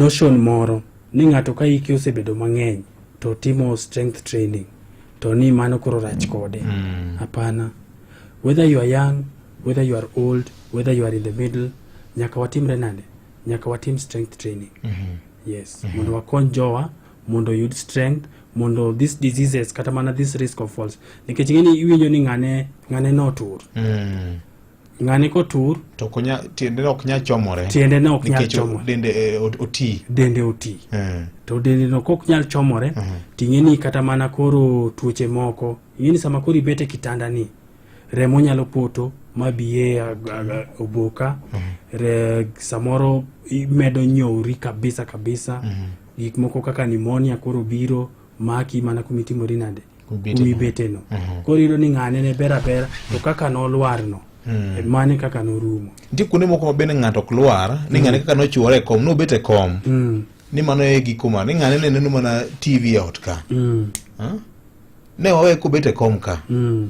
Notion moro ni ng'ato ka hike osebedo mang'eny to timo strength training to ni mano koro rach kode mm. hapana mm. whether you are young whether you are old whether you are in the middle nyaka watimre nade nyaka watim strength training mm -hmm. yes mm -hmm. mondo wakony jowa mondo yud strength mondo these diseases kata mana this risk of falls nikech ng'eni iwinjo ni ng'ane ng'ane notur mm. ng'ani kotur to konya tiendene ok nyal chomore tiendene ok nyal chomore dende eh, oti dende oti eh. to dende no kok nyal chomore uh -huh. ting'e ni kata mana koro tuoche moko ing'e ni sama koro ibete kitanda ni remo nyalo poto ma biye oboka uh -huh. Re, samoro imedo nyowri kabisa kabisa uh -huh. gik moko kaka nimonia koro biro maki mana kumitimori nade wi beteno mhm. koro iyudo ni ng'ane ne ber abera to mhm. kaka nolwarno Mm. mane kaka norumo nitie kuonde moko ma bende ng'ato ok lwar ni mm. ng'ane kaka nochuore e kom nobet e kom mm. ni mano e giko ma ni ng'ane ne neno mana tv e ot ka mm. ne wawe kobet e kom ka mm.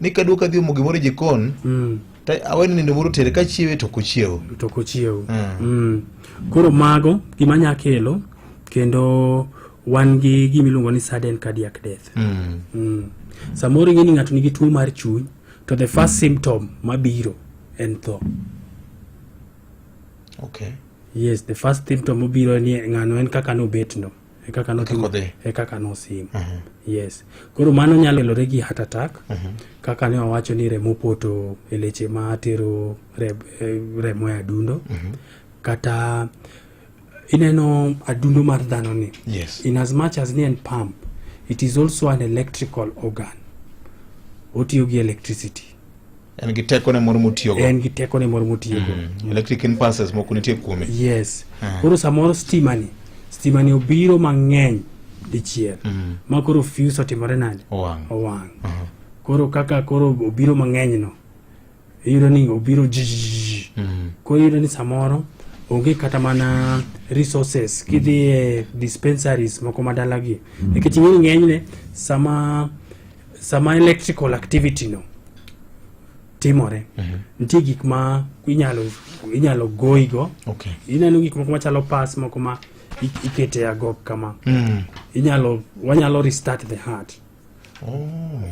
ni kadwa kadhi omo gimoro e jikon mm. aweni nindo moro tere ka chiewe to kochiewo to kochiewo mm. mm. koro mago gima nya kelo kendo wan gi gima iluongo ni sudden cardiac death mm. Mm. samoro ing'e ni ng'ato nigi tuo mar chuny to the first symptom mabiro en tho okay. yes the first symptom mobiro ni ng'ano en kaka nobetno e kaka notimo Kaka odhi. e kaka nosim yes koro mano nyalo kelore gi heart attack kaka ne wawacho ni remo poto e leche ma tero re- eh, remo e adundo kata ineno adundo mar dhano ni Yes. in as much as ni en pump it is also an electrical organ otiyo gi electricity en gi tekone moro motiyogo en gi tekone moro motiyogo mm. electric impulses moko nitie kuome yes ah. koro samoro stimani stimani obiro mang'eny dichiel mm. ma koro fuse otimore nade owang' owang' uh -huh. koro kaka koro obiro mang'eny no iyudo ni obiro jijiji mm. koro iyudo ni samoro onge kata mana resources kidhi e dispensaries moko madalagi mm. nikech ing'eyo ng'enyne sama sama electrical activity no timore mm -hmm. nitie gik ma inyalo inyalo goyigo okay. ineno gik moko machalo pas moko ma ikete agok kama mm. inyalo wanyalo restart the heart oh.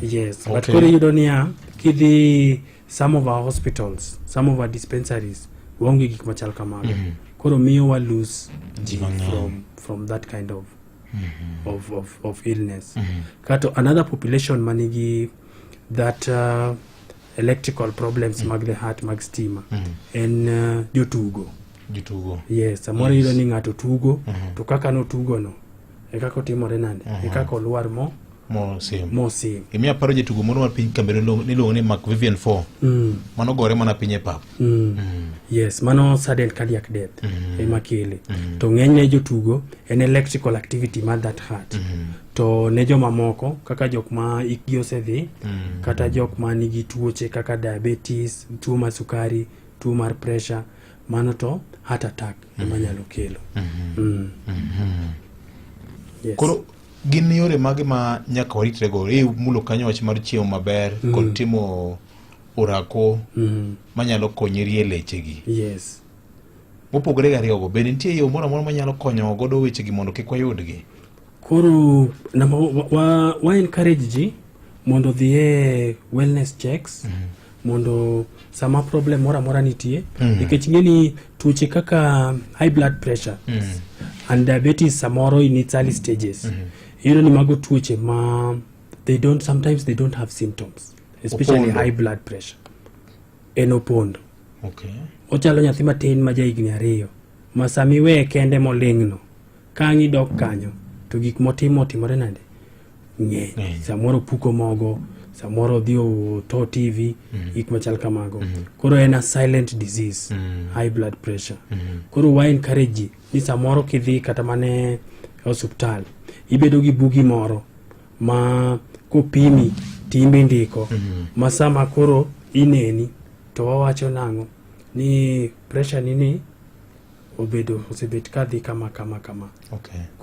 yes okay. but koro iyudo niya kidhi some of our hospitals some of our dispensaries waonge gik machal kamago mm -hmm. koro miyo wa lose ji from, from that kind of mm -hmm. of, of, of illness mm -hmm. kato another population manigi that uh, electrical problems mm -hmm. mag the heart mag stima mm -hmm. en uh, jotugo jotugo yes samoro yes. iyudo ni ng'ato tugo mm -hmm. to kaka notugono e kaka otimore nande mm -hmm. e kaka olwar mo mosim mosim emi aparo jatugo moro mar piny kambe niluongo ni mark vivian four mm. mano gore mana piny e pap mm. mm. yes mano sudden cardiac death mm. ema kele mm. to ng'enyne jotugo en electrical activity mar that heart mm. to ne jomamoko kaka jok ma ikgi osedhi mm. kata jok ma nigi tuoche kaka diabetes tuo mar sukari tuo mar pressure mano to heart attack ema mm. nyalo kelo mm -hmm. mm. Mm -hmm. yes. Koro, Gin yore mage ma nyaka waritrego? E mulo kanyo wach mar chiemo maber mm. kod timo orako mm. Mm-hmm. manyalo konyi rie lechegi. Yes. Mopogore gi ariyogo, bende nitie yo moro amora manyalo konyo godo wechegi mondo kik wayudgi? Koro namba wa, wa encourage ji mondo odhi e wellness checks mm -hmm. mondo sama problem moro amora nitie mm -hmm. nikech ing'e ni tuoche kaka high blood pressure mm -hmm. and diabetes samoro in its early stages mm -hmm. iyudo ni mago tuoche ma they don't sometimes they don't have symptoms especially opondo. high blood pressure en opondo okay. ochalo nyathi matin ma ja higni ariyo ma samiweye kende moling'no Ka ang' idok kanyo, to gik motimo otimore nade? Ng'eny. Ng'eny. Samoro puko mogo, samoro odhi oto TV, gik machal kamago. Koro en a silent disease, high blood pressure. Koro wa encourage ji ni samoro kidhi kata mane osuptal, ibedo gi bugi moro ma kopimi timbe ndiko ma sama koro ineni to wawacho nang'o ni pressure ni ni obedo osebet kadhi kama kama kama. Okay.